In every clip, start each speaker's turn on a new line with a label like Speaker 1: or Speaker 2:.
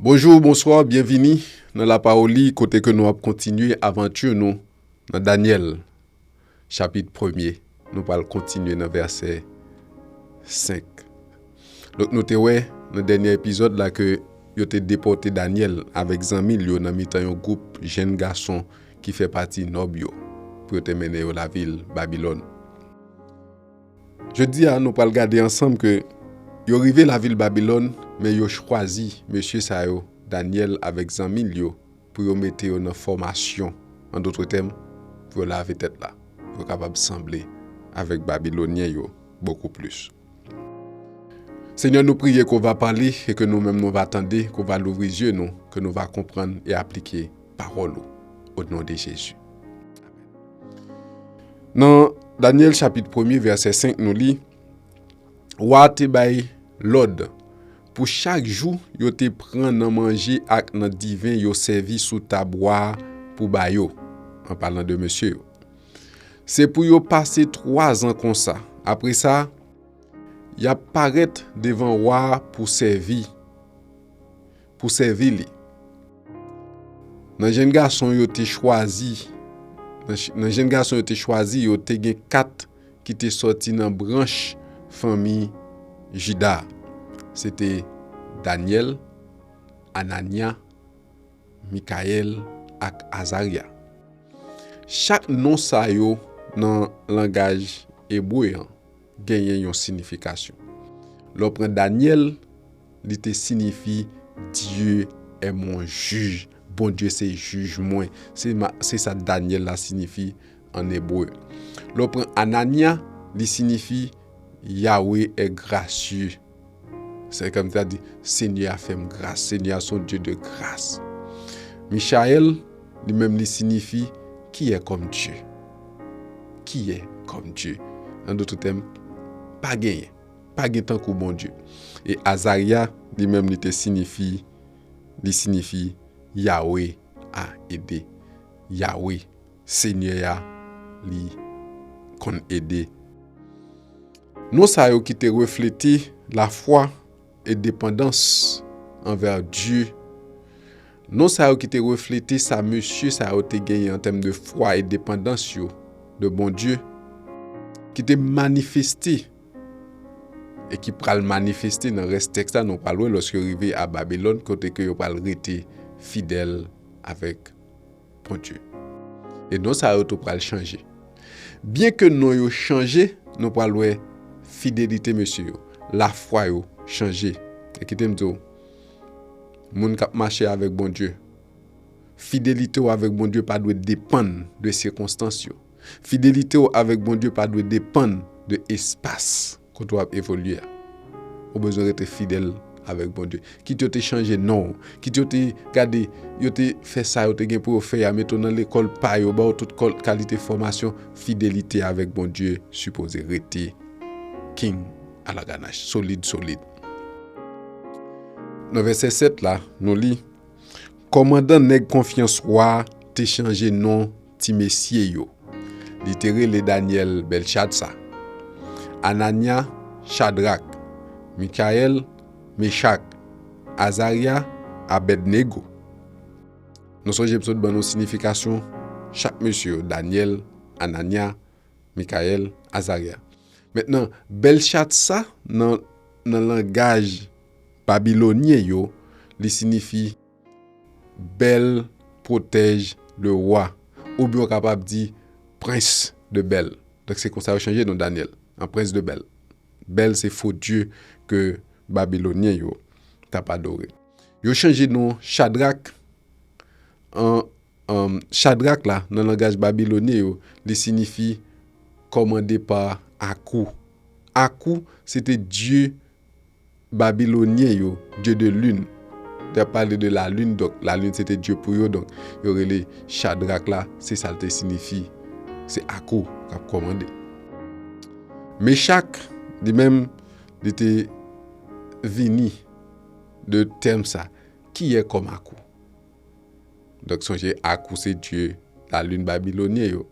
Speaker 1: Bonjou, bonswa, byenvini nan lapawoli kote ke nou ap kontinye avantur nou nan Daniel chapit premye nou pral kontinye nan vèsè 5. Donk nou te wè nan dènye epizòd la ke yo te depote Daniel avèk zanmi l yo nan mitan yon gwoup jenn gason ki fè pati nòb yo, pou yo te mennen yo lavil Babilòn. Jodi a, nou pral gade ansanm ke yo rive lavil Babilòn, men yo chwazi mesye sa yo, Dànyèl avèk zanmi l yo, pou yo mete yo nan fòmasyon, an dotre tèm, pou yo lave tèt la, pou yo kapab sanble avèk Babilonyen yo bokou plis. Senyè nou priye ke w va pale e ke nou menm nou va tande, ke w va louvri zye nou, ke nou va konprann e aplike pawòl ou. O non de Jezi. Nan Danyèl chapit premye vèsè 5 nou li, Wa a te bay lòd pou chak jou yo te pran nan manje ak nan diven yo sèvi sou tab wa a pou ba yo, an palan de mesye yo. Se pou yo pase twa zan konsa. Apre sa, y ap parèt devan wa a pou sèvi, pou sèvi li. Nan jenn gason yo te chwazi, nan jenn gason yo te chwazi yo, te gen kat ki te sòti nan branch fanmi Jida. Se te Dànyèl, Anànya, Mikayèl ak Azarya. Chak non sa yo nan langaj ebre an genyen yon sinifikasyon. Lè w pran Dànyèl, li te sinifi Dye è mon jij, Bondye se jij mwen. Se sa Dànyèl la sinifi ann ebre. Lè w pran Anànya, li sinifi Yawe è grasye. Se kèm ta di, Senyè a fèm gras. Senyè a son Dye de gras. Michayèl, li menm li sinifi, Ki è kòm Dye? Ki è kòm Dye? An doutr tèm, pa genyen. Pa gen tankou Bondye. E Azarya, li menm li te sinifi, li sinifi, Yawe a ede. Yawe, Senyè a, li konn ede. Non sa yo ki te reflete lafwa e depandans anvè Dye. Non sa yo ki te reflete sa mesye sa yo te genyen an tèm de fwa e depandans yo de Bondye, ki te manifeste e ki pral manifeste nan rès tèks la nou pral wè lòske yo rive a Babilòn kote ke yo pral rete fidèl avèk Bondye. E non sa yo tou pral chanje. Byen ke non yo chanje, nou pral wè fidelite mesye yo, lafwa yo chanje. E kite m di w, moun k ap mache avèk Bondye, fidelite w avèk Bondye pa dwe depann de sikonstans yo. Fidelite w avèk Bondye pa dwe depann de espas. Kote w ap evolye a, ou bezwen rete fidèl avèk Bondye. Kit yo te chanje non w, kit yo te gade, yo te fè sa yo te gen pou yo fè a, mete w nan lekòl pa yo, ba w tout kalite fòmasyon, fidelite avèk Bondye sipoze rete king alaganach, solid solid. Nan vèsè 7 la, nou li, Kòmandan nèg konfyans wa te chanje non Ti mesye yo. Li te rele Danyèl Bèlchatsa, Anànya, Chadrak, Mikayèl, Mechak, Azarya, Abèdnego. Nou sonje m sot ban nou siyifikasyon chak mesye yo, Danyèl, Anànya, Mikayèl, Azarya. Mentnan, Bèlchatsa nan nan langaj babilonyen yo, li siyifi. Bèl pwotèj le wa. Oubyen ou kapab di prens de Bèl. Donk se konsa yo chanje non Danyèl an prens de Bèl. Bèl se fo dye ke Babilonyen yo t ap adore. Yo chanje non Chadrak an, Chadrak la nan langaj babilonyen yo li sinifi kòmande pa Akou. Akou se te dye Babilonyen yo, dye de lune, te ap pale de la lune, donk la lune se te dye pou yo, donk yo rele Chadrak la, se sa l te sinifi, se ak ou l ap kòmande. Mechak, li menm, li te vini de tèm sa, ki yè kòm ak ou. Donk sonje ak ou se dye la lune babilonyen yo.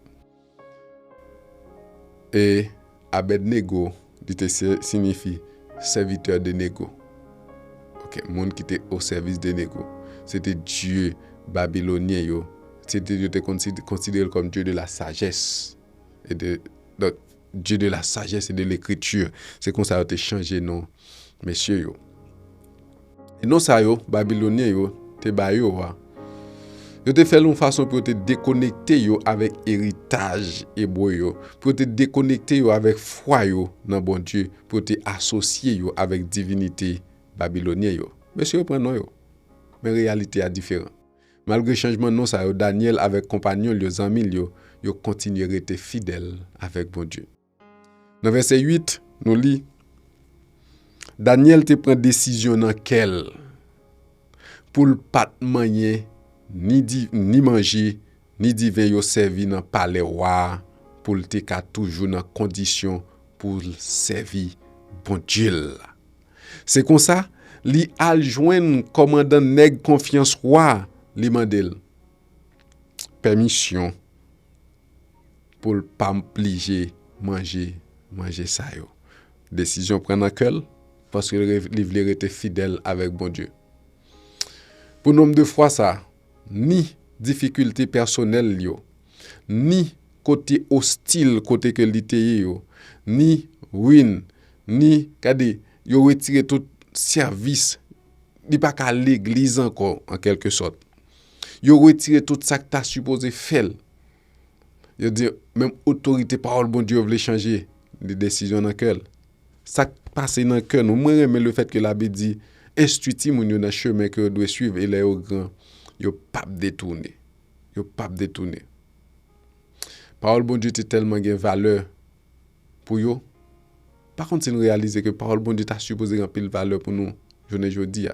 Speaker 1: E Abèdnego, li te sinyifi sèvitè de Nego. Ok, moun ki te o sèvis de Nego. Se te dye babilonyen yo. Se te yo te konsidere l kòm dye de la sajès. E de, donk, dye de la sajès e de lekriti. Se konsa yo te chanje non mesye yo. E non sa yo, Babilonyen yo, te ba yo a, yo te fè l yon fason pou yo te dekonekte yo avèk eritaj ebre yo, pou yo te dekonekte yo avèk fwa yo nan Bondye, pou yo te asosye yo avèk divinite babilonyen yo. Mesye yo pran non yo, men reyalite a diferan. Malgre chanjman non sa yo, Dànyèl avèk konpanyon l yo, zanmi l yo, yo kontinye rete fidèl avèk Bondye. Nan vèsè 8, nou li, Dànyèl te pran desizyon nan kè l pou l pa t manyen ni manje ni diven yo sèvi nan palè wa a pou l te ka toujou nan kondisyon pou l sèvi Bondye l la. Se konsa, li al jwenn kòmandan nèg konfyans wa a, li mande l pèmisyon. poul pa mplije manje manje sa yo desizyon pran nan kèl paske li vle rete fidèl avèk Bondye pou nonb de fwa sa ni difikilte pèsonèl li yo ni kote ostil kote ke li te ye yo ni ruin ni gade yo retire tout sèvis li pa ka legliz ankò an kèlke sòt yo retire tout sak ta sipoze fèl. Yo di, menm otorite pawòl Bondye yo vle chanje li desizyon nan kè l. Sa k pase nan kè nou? Mwen renmen le fèt ke labib di, enstwi timoun yo nan chemen ke yo dwe swiv e lè yo gran, yo pa p detoune. Yo pa p detoune. Pawòl Bondye te tèlman gen valè pou yo, pa konn si nou reyalize ke pawòl Bondye ta sipoze gen anpil valè pou nou jounen jodi a.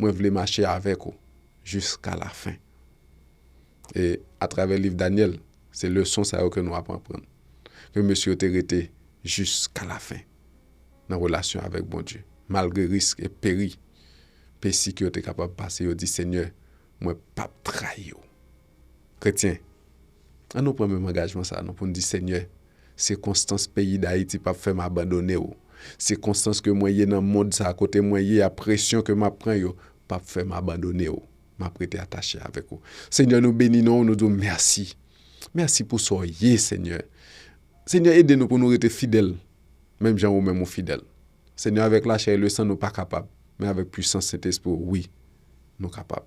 Speaker 1: Mwen vle mache avèk ou jiska lafen. E atravè liv Danyèl, se leson sa yo ke nou ap anprann. Ke mesye yo te rete jiska lafen nan relasyon avèk Bondye. Malgre risk e peri, pesi ke yo te kapab pase, yo di, Senyè, mwen pap trayi ou. Kretyen, an nou pran menm angajman sa non pou n di Senyè, sikonstans peyi Dayiti pap fè m abandone w, sikonstans ke mwen ye nan mond sa kote mwen ye a presyon ke m ap pran yo pap fè m abandone w, m ap rete atache avèk ou. Senyè nou beni non w nou di w mèsi, mèsi pou sa w ye Senyè. Senyè ede nou pou nou rete fidèl menm jan ou menm ou fidèl. Senyè avèk lachè e lesan nou pa kapab men avèk pwisans Sentespri w wi nou kapab.